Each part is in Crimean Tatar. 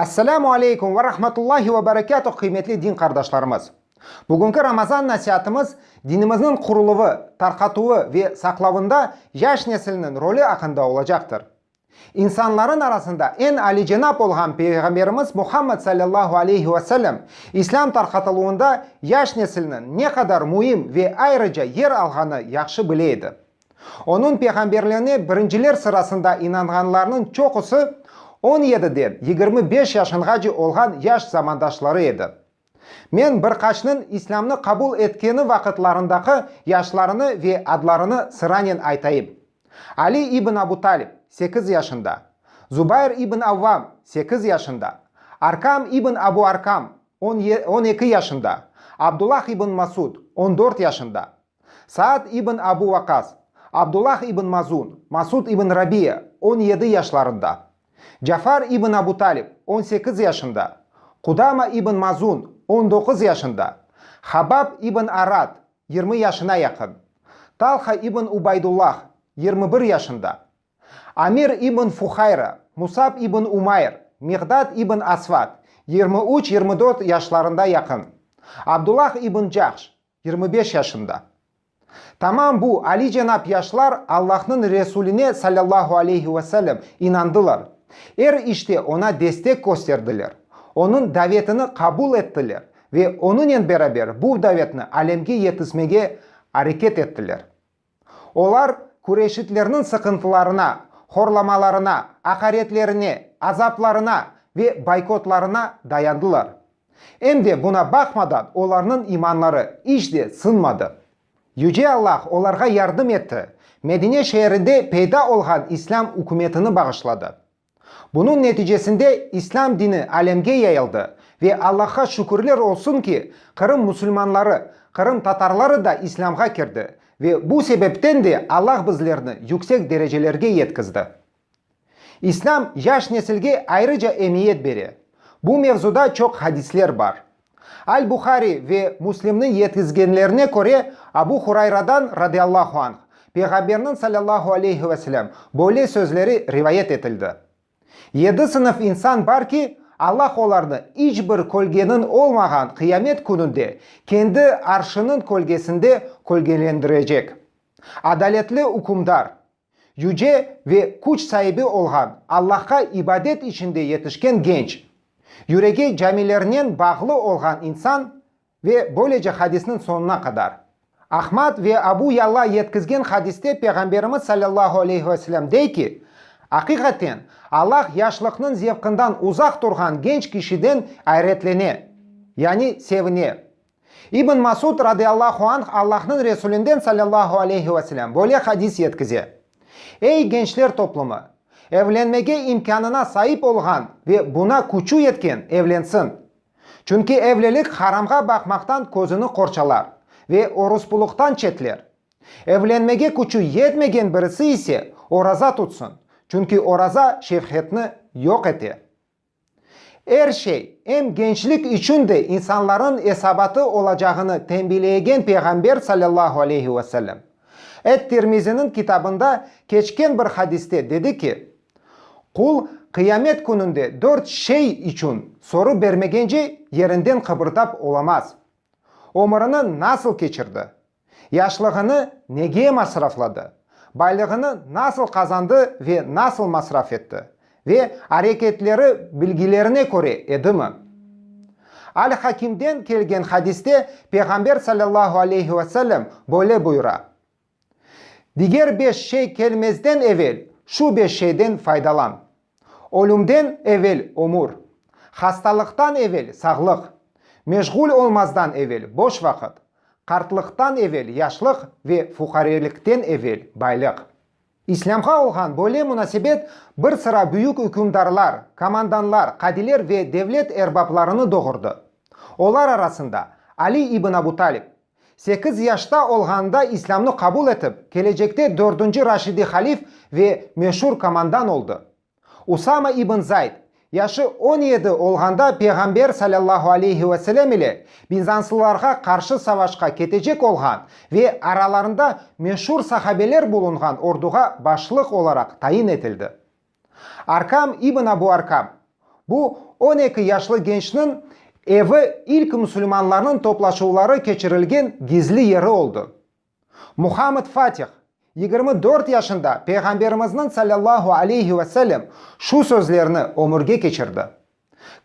Esselamu aleykum ve rahmetullahi ve berekatuh, qıymetli din qardaşlarımız! Bugünki Ramazan nasiatımız dinimizniñ quruluvı, tarqatuvı ve saqlavında yaş nesilniñ rolü aqqında olacaqtır. İnsanların arasında eñ alicenap olğan Peyğamberimiz Muhammed sallallahu aleyhi ve sellem İslâm tarqatıluvında yaş nesilniñ ne qadar müim ve ayrıca yer alğanı yahşı bile edi. Onıñ peyğamberliğine birinciler sırasında inanğanlarnıñ çoqusı on yediden yigirmi beş yaşınğace olğan yaş zamandaşları edi. Men bir qaçnıñ İslâmnı qabul etkeni vaqıtlarındaki yaşlarını ve adlarını sıranen aytayım. Ali ibn Abu Talib, sekiz yaşında, Zubayr ibn Avvam, sekiz yaşında, Arkam ibn Abu Arkam, on ye, on eki yaşında, Abdullah ibn Masud, on dört yaşında, Saad ibn Abu Vaqqas, Abdullah ibn Mazun, Masud ibn Rabiya, on yedi yaşlarında. Cafar ibn Abu Talib, on sekiz yaşında, Qudama ibn Mazun, on doquz yaşında, Habab ibn Arat, yirmi yaşına yaqın, Talha ibn Ubaydullah, yirmi bir yaşında, Amir ibn Fuhayra, Musab ibn Umayr, Miqdad ibn Asvat, yirmi üç-yirmi dört yaşlarında yaqın, Abdullah ibn Cahş, Yirmi beş yaşında. Tamam bu alicenap yaşlar Allahnıñ Resuline salâllahu aleyhi ve sellem inandılar, er işte oña destek kösterdiler, onıñ davetini qabul ettiler ve onıñen beraber bu davetni alemge yetismege areket ettiler. Olar küreşitlerniñ sıqıntılarına, horlamalarına, aqaretlerine, azaplarına ve boykotlarına dayandılar. Em de buna baqmadan olarnıñ imanları iç de sınmadı. Yüce Allah olarğa yardım etti, Medine şeerinde peyda olğan İslâm ükümetini bağışladı. Bunıñ neticesinde İslâm dini alemge yayıldı ve Allah'a şükürler olsun ki, Qırım musulmanları, Qırım tatarları da İslâmğa kirdi ve bu sebepten de Allah bizlerni yüksek derecelerge yetkizdi. İslâm yaş nesilge ayrıca emiyet bere. Bu mevzuda çoq hadisler bar. Al-Buhari ve Müslimniñ yetkizgenlerine köre, Abu Hurayradan, radiallahu anh, Peyğamberniñ, sallallahu aleyhi ve selem, böyle sözleri rivayet etildi, Yedi sınıf insan bar ki, Allah olarnı iç bir kölgeniñ olmağan Qıyamet Kününde kendi Arşınıñ kölgesinde kölgelendirecek, Adaletli ükümdar, Yüce ve küç saibi olğan Allahqa ibadet içinde yetişken genç, yüregi camilernen bağlı olğan insan ve böylece hadisniñ soñuna qadar. Ahmad ve Abu Yalla yetkizgen hadiste Peyğamberimiz salâllahu aleyhi ve selâm dey ki, Aqiqaten, Allah yaşlıqnıñ zevqından uzaq turğan genç kişiden ayretlene, yani sevine, İbn Masud, radıyallahu anh, Allahnıñ Resulinden, sallallahu aleyhi ve selem, böyle hadis yetkize, Ey, gençler toplumı! Evlenmege imkânına saip olğan ve buna küçü yetken evlensin. Çünki evlilik haramğa baqmaqtan közüni qorçalar ve oruspulıqtan çetler. Evlenmege küçü yetmegen birisi ise oraza tutsın, çünki oraza şefhetni yoq ete. Er şey, em gençlik içün de insanlarnıñ esabatı olacağını tenbileegen Peyğamber salâllahu aleyhi ve sellem, et-Tirmiziniñ kitabında keçken bir hadiste dedi ki, Qul Qıyamet kününde dört şey içün soru bermegence yerinden qıbırdap olamaz, Ömrüni nasıl keçirdi? Yaşlığını nege masrafladı, baylığını nasıl qazandı ve nasıl masraf etti ve areketleri bilgilerine köre edimi? Al-Hakimden kelgen hadiste Peyğamber sallallahu aleyhi ve sellem böyle buyura, Diger beş şey kelmezden evel şu beş şeyden faydalan. Ölümden evel ömür. Hastalıqtan evel sağlıq. Meşğul olmazdan evel boş vaqıt. Qartlıqtan evel yaşlıq ve fuqarelikten evel baylıq. İslâmğa olğan böyle munasebet bir sıra büyük ükümdarlar, komandanlar, qadiler ve devlet erbaplarını doğurdı. Olar arasında Ali ibn Abu Talib, Sekiz yaşta olğanında İslâmnı qabul etip, kelecekte dördünci Raşidi Halif ve meşur komandan oldı. Usama ibn Zayd, yaşı on yedi olğanda Peyğamber salâllahu aleyhi ve selâm ile bizanslılarğa qarşı savaşqa ketecek olğan ve aralarında meşur sahabeler bulunğan orduğa başlıq olaraq tayin etildi. Arkam ibn Abu Arkam, bu on eki yaşlı gençniñ evi ilk musulmanlarnıñ toplaşuvları keçirilgen gizli yeri oldı. Muhammed Fatih, yigirmi dört yaşında Peyğamberimizniñ sallallahu aleyhi ve sellem şu sözlerni ömürge keçirdi,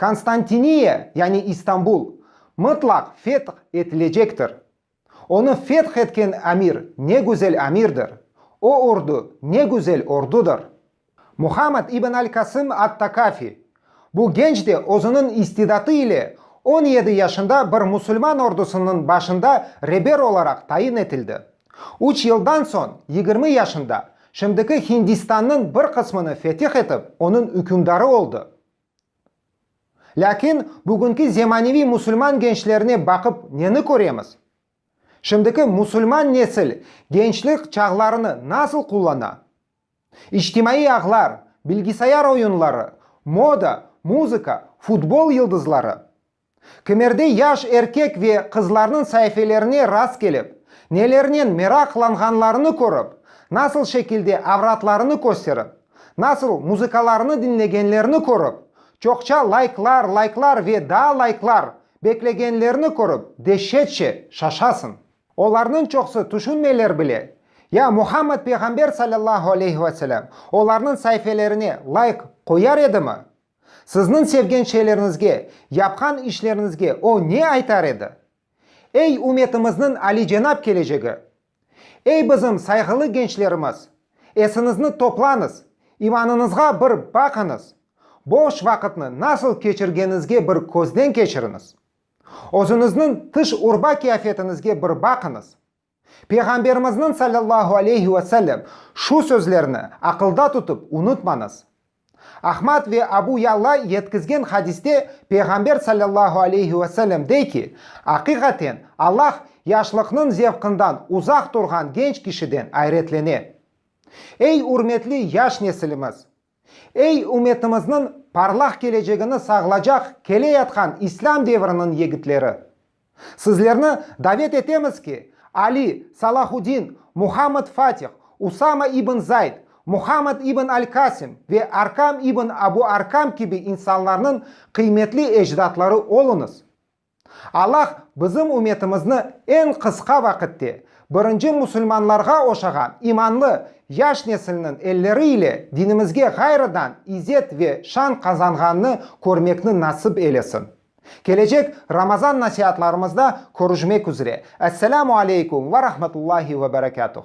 Konstantiniye, yani İstanbul, mıtlaq feth etilecektir. Onı feth etken amir ne güzel amirdir, o ordu ne güzel ordudır! Muhammad ibn al-Kasım at-Takafi, bu genç de özüniñ istidatı ile on yedi yaşında bir musulman ordusınıñ başında reber olaraq tayin etildi. Üç yıldan soñ, yigirmi yaşında, şimdiki Hindistannıñ bir qısmını fetih etip, onıñ ükümdarı oldı. Lâkin bugünki zemaneviy musulman gençlerine baqıp neni köremiz? Şimdiki musulman nesil gençlik çağlarını nasıl qullana? İçtimaiy ağlar, bilgisayar oyunları, moda, muzıka, futbol yıldızları. Kemerde yaş erkek ve qızlarnıñ saifelerine rastkelip, nelernen meraqlanğanlarını körip, nasıl şekilde avratlarını kösterip, nasıl muzıkalarını diñlegenlerini körip, çoqça laiklar, laiklar ve daa laiklar beklegenlerini körip deşşetçe şaşasıñ. Olarnıñ çoqsı tüşünmeyler bile. Ya Muhammed Peyğamber salâllahu aleyhi ve selâm olarnıñ saifelerine laik qoyar edimi? Sizniñ sevgen şeylerinizge, yapqan işlerinizge o ne aytar edi? Ey, ümetimizniñ alicenap kelecegi! Ey, bizim sayğılı gençlerimiz! Esiñizni toplañız, imanıñızğa bir baqıñız, boş vaqıtnı nasıl keçirgenizge bir közden keçiriñiz, özüñizniñ tış-urba qiyafetiñizge bir baqıñız. Peyğamberimizniñ sallallahu aleyhi ve sellem şu sözlerni aqılda tutıp, unutmañız. Ahmad ve Abu Ya'la yetkizgen hadiste Peyğamber sallallahu aleyhi ve sellem dey ki, Aqiqaten, Allah yaşlıqnıñ zevqından uzaq turğan genç kişiden ayretlene. Ey ürmetli yaş nesilimiz! Ey, ümetimizniñ parlaq kelecegini sağlacaq keleyatqan İslâm devriniñ yigitleri! Sizlerni davet etemiz ki, Ali, Salahuddin, Muhammed Fatih, Usama ibn Zayd, Muhammed ibn al-Kasim ve Arkam ibn Abu Arkam kibi insanlarnıñ qıymetli ecdatları oluñız. Allah bizim ümetimizni eñ qısqa vaqitte birinci musulmanlarğa oşağan imanlı yaş nesilniñ elleri ile dinimizge ğayrıdan izet ve şan qazanğanını körmekni nasip eylesin. Kelecek Ramazan nasiatlarımızda körüşmek üzre. Esselamu aleykum ve rahmetullahi ve berekatuh.